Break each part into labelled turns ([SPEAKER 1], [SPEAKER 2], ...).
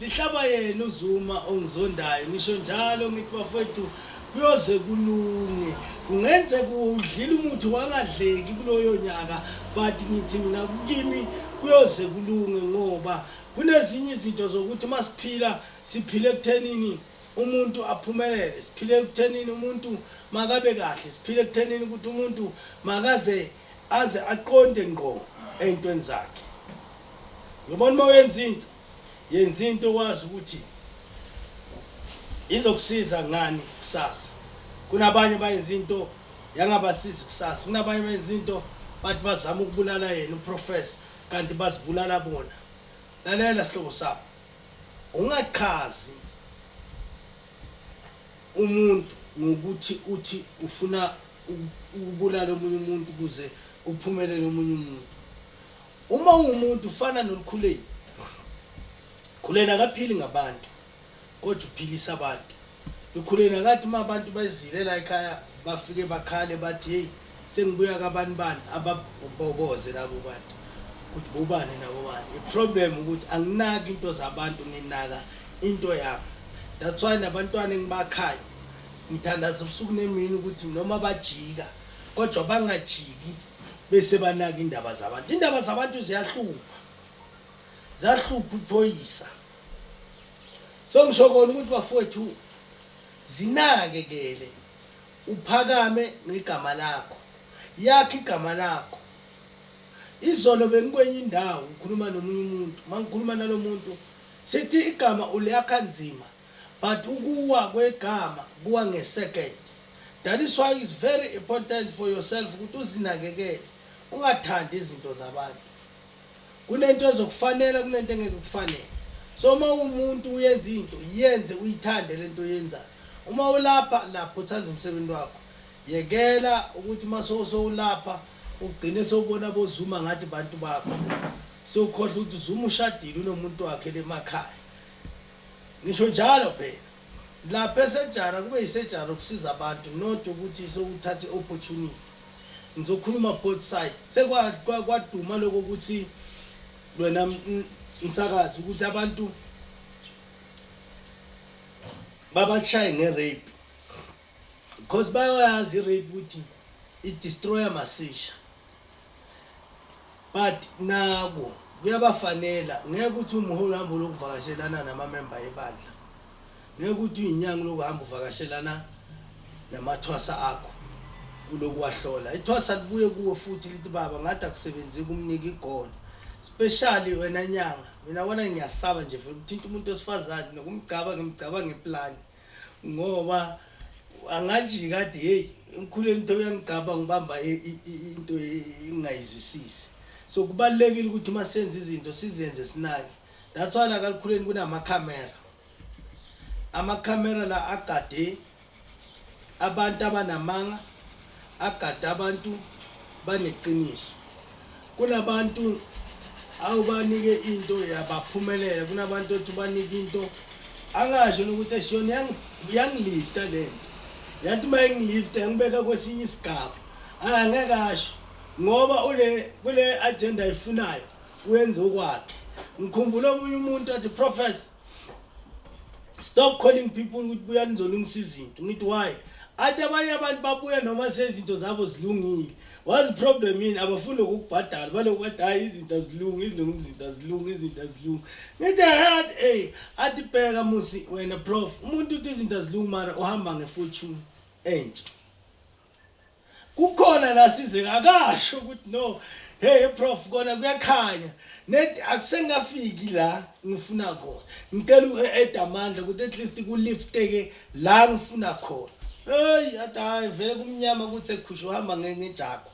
[SPEAKER 1] Lihlaba yena uZuma ongizondayo ngisho njalo ngithi bafethu kuyoze kulunge kungenzeka udlile umuthi wangadleki kuloyo nyaka but ngithi mina kukimi kuyoze kulunge ngoba kunezinye izinto zokuthi uma siphila siphile ekuthenini umuntu aphumelele siphile ekuthenini umuntu makabe kahle siphile ekuthenini ukuthi umuntu makaze aze aqonde ngqo ey'ntweni zakhe yobona uma uyenza into Yenza into wazi ukuthi izokusiza ngani kusasa. Kunabanye bayenza into yangabasizi kusasa. Kunabanye bayenza into bathi bazama ukubulala yena uprofessor kanti bazibulala bona. Lalela sihlobo sami. Ungachazi umuntu ngokuthi uthi ufuna ukubulala omunye umuntu ukuze kuphumelele omunye umuntu Uma ungumuntu ufana nolukhuleni. Khuleni akaphili ngabantu kodwa uphilisa abantu. Lukhuleni akathi uma abantu bezile la ekhaya bafike bakhale bathi hey sengibuya kabani bani ababoboze labo bantu ukuthi bobani nabo bani. Iproblem ukuthi anginaki into zabantu nginaka into yabo. That's why nabantwana engibakhayo ngithandaza ubusuku nemini ukuthi noma bajika kodwa bangajiki bese banaka indaba zabantu indaba zabantu ziyahlupha zahlupha uphoyisa so ngisho kona ukuthi bafowethu zinakekele uphakame ngegama lakho yakhe igama lakho izolo bengikwenye indawo ngikhuluma nomunye umuntu mangikhuluma nalomuntu sithi igama uliyakha nzima but ukuwa kwegama kuwa ngesecond that is why it's very important for yourself ukuthi uzinakekele ungathandi izinto zabantu kunento ezokufanela kunento engeke kufanele so uma umuntu uyenza into yenze uyithande lento oyenzayo uma ulapha lapho uthanda umsebenzi wakho yekela ukuthi uma sowulapha ugcine sowubona bozuma ngathi bantu bakho sewukhohlwa ukuthi zuma ushadile unomuntu wakhe lemakhaya Ngisho njalo phela lapha esejara kube yisejara ukusiza abantu not ukuthi sokuthatha i-opportunity ngizokhuluma both side sekwaduma lokho ukuthi wena msakazi ukuthi abantu babashaye nge-rape Because bayoyazi i-rape ukuthi i-destroyer masisha. But naku kuyabafanela ngeke ukuthi umholi uhambe lokuvakashelana namamemba ebandla. Ngeke ukuthi uyinyanga lokuhamba uvakashelana namathwasa akho kulokuwahlola. Ithwasa libuye kuwe futhi lithi baba ngathi akusebenzi kumnika igolo. Especially wena nyanga. Mina wona ngiyasaba nje vele ukuthinta umuntu osifazane nokumgcaba ngimgcaba ngeplani. ngoba angathi kade hey emkhuleni into yangigaba ngibamba into engayizwisisi so kubalekile ukuthi uma senze izinto sizenze sinake that's why la kalukhuleni kunama camera ama camera la agade abantu abanamanga agade abantu baneqiniso Kunabantu awubanike into yabaphumelela kunabantu othi ubanike into angasho nokuthi eshiyona yangilifta le nto yathi uma ingilifta yangibeka kwesinye isigaba angeke asho ngoba ule kule agenda ayifunayo wenze ukwakhe ngikhumbula omunye umuntu athi professor stop calling people ukuthi buya nizolungisa izinto ngithi why athi abanye abantu babuya noma sezinto zabo zilungile wazi problem yini abafuni ukubhadala baloku bathi hayi izinto azilungi izilungi izinto azilungi izinto azilungi ngithi hat ey athi bheka musi wena prof umuntu uthi izinto azilungi mara uhamba ngefortune entsha kukhona la sizeka akasho ukuthi no hey prof kona kuyakhanya net akusengafiki la ngifuna khona ngicela u-ed amandla ukuthi at least kulifteke la ngifuna khona heyi athi hayi vele kumnyama ukuthi ekhushe uhamba ngejago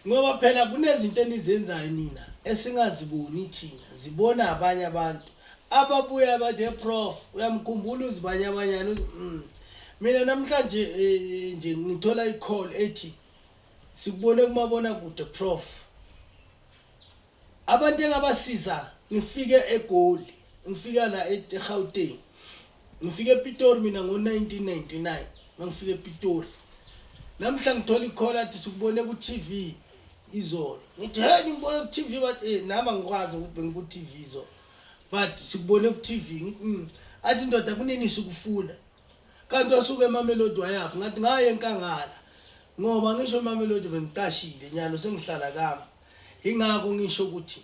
[SPEAKER 1] Ngoba phela kunezinto enizenzayo nina esingaziboni thina, zibona abanye abantu. Ababuya bathe prof, uyamkhumbula uzibanyabanyana uthi mm. Mina namhlanje eh, nje ngithola i-call ethi sikubone kumabona kude prof. Abantu engabasiza ngifike eGoli, ngifika la eGauteng. Ngifike ePitori mina ngo-1999 mangifika ePitori. Namhla ngithola ikhola athi sikubone ku-TV izolo. Ngithi hey ngibone ku-TV but eh nami angikwazi ukuthi bengiku-TV izolo. But sikubone ku-TV. Mm. Athi ndoda kunini sikufuna? Kanti wasuka eMamelodi wayaphi? Ngathi ngaye enkangala ngoba ngisho eMamelodi bengiqashile nyalo sengihlala kami. Ingakho ngisho ukuthi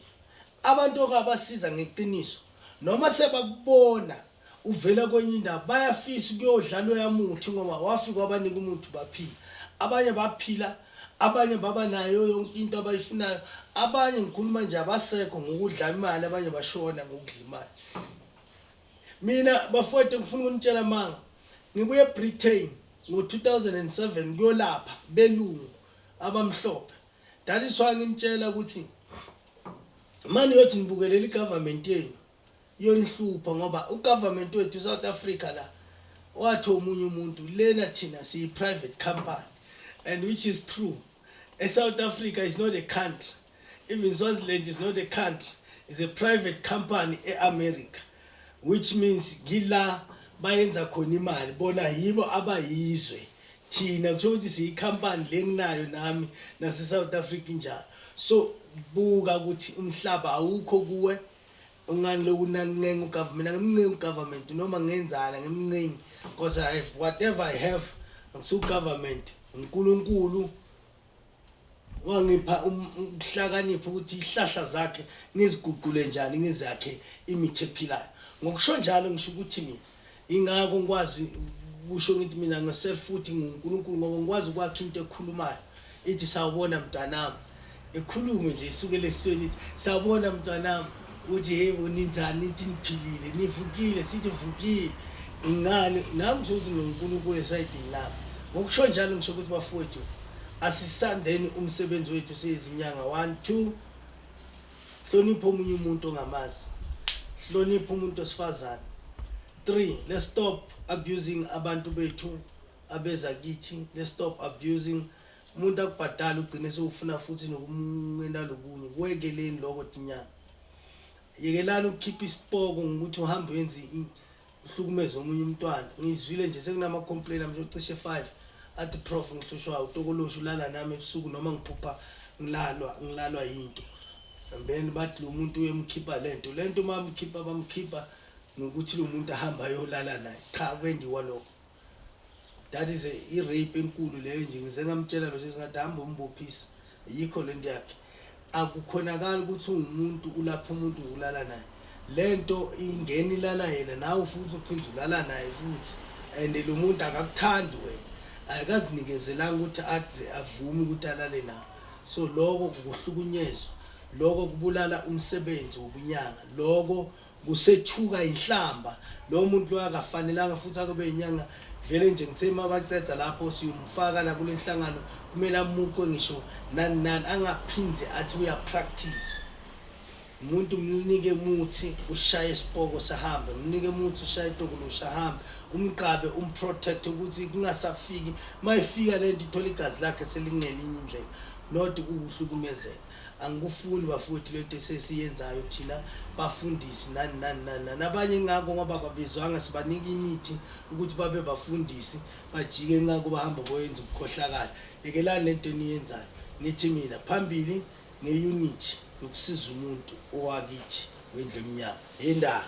[SPEAKER 1] abantu okabasiza ngeqiniso noma sebakubona uvela kwenye indawo bayafisa ukuyodlala oyamuthi ngoba wafika wabanika umuthi baphila abanye baphila abanye baba nayo yonke into abayifunayo abanye ngikhuluma nje abasekho ngokudla imali abanye bashona ngokudla imali Mina bafowethu ngifuna ukunitshela amanga. Ngibuye eBritain ngo-2007 kuyolapha belungu abamhlophe. That is why nginitshela ukuthi mani yothi nibukelela igovernment yenu yonihlupha ngoba ugovernment wethu South Africa la wathi omunye umuntu lena thina siyi private company and which is true. E South Africa is not a country. Even Swaziland is not a country, it's a private company e-America which means ngila bayenza khona imali bona yibo abayizwe thina kuthiwa ukuthi siyikhampani le nginayo nami nase-south africa injalo so buka ukuthi umhlaba awukho kuwe ungani lokunancenga ugovernment angimncengi ugovernment noma ngenzana ngimncengi because i have whatever i have ngisugovernment unkulunkulu wangipha um-, ukuhlakanipha ukuthi ihlahla zakhe ngiziguqule njani ngizakhe imithi ephilayo ngokusho njalo ngisho ukuthi mina ingako ngikwazi kusho ngithi mina ngiself futhi nguNkulunkulu ngoba ngikwazi ukwakha into ekhulumayo ithi sawubona mntanami ekhulume nje isukele esweni ithi sawubona mntanami uthi yebo ninjani nithi niphilile nivukile sithi vukile ngani nami ngisho ukuthi nonkulunkulu esayidini lami ngokusho njalo ngisho ukuthi bafowethu asisandeni umsebenzi wethu siyizinyanga one two hlonipha omunye umuntu ongamazi hlonipha umuntu osifazane three let's stop abusing abantu bethu abeza kithi let's stop abusing umuntu akubhadala ugcine sewufuna futhi nokumwena lokunye kwekeleni lokho tinyanga yekelani ukukhipha isipoko ngokuthi uhambe wenze uhlukumeze omunye umntwana ngizwile nje sekunama-complain amnje ocishe five athi prof ngihlushwa utokolosha ulala nami ebusuku noma ngiphupha ngilalwa ngilalwa yinto then bathi lo muntu uyemkhipha le nto le nto uma mkhipha bamkhipha nokuthi lo muntu ahambe ayolala naye cha kwendiwa lokho that is i-rape enkulu leyo nje ngize ngamtshela lo sisi ngathi hambe umbophisa yikho le nto yakhe akukhonakali ukuthi ungumuntu ulapha umuntu ngokulala naye le nto ingena ilala yena nawe futhi uphinde ulala naye futhi and lo muntu akakuthandi wena akazinikezelanga ukuthi athi avume ukuthi alale nawe so loko kukuhlukunyezwa loko kubulala umsebenzi wobunyanga loko Kusethuka inhlamba lo muntu lo akafanelanga futhi akube inyanga vele nje ngithe uma baceda lapho siyomfaka la kule nhlangano kumele amuqwe ngisho nani nani angaphinde athi uyapractice umuntu mnike muthi ushaye isipoko sahambe mnike muthi ushaye itokulusha hambe umqabe umprotect ukuthi kungasafiki mayifika lento ithola igazi lakhe selingelinye indlela not ukuhlukumezeka angikufuni bafowethu lento esesiyenzayo thina bafundisi nani nani nani nani abanye ngako ngoba babizwanga sibanika imithi ukuthi babe bafundisi bajike ngako bahamba boyenza ukukhohlakala yekelani lento eniyenzayo nithi mina phambili ngeunity yokusiza umuntu owakithi wendlu emnyama yendaba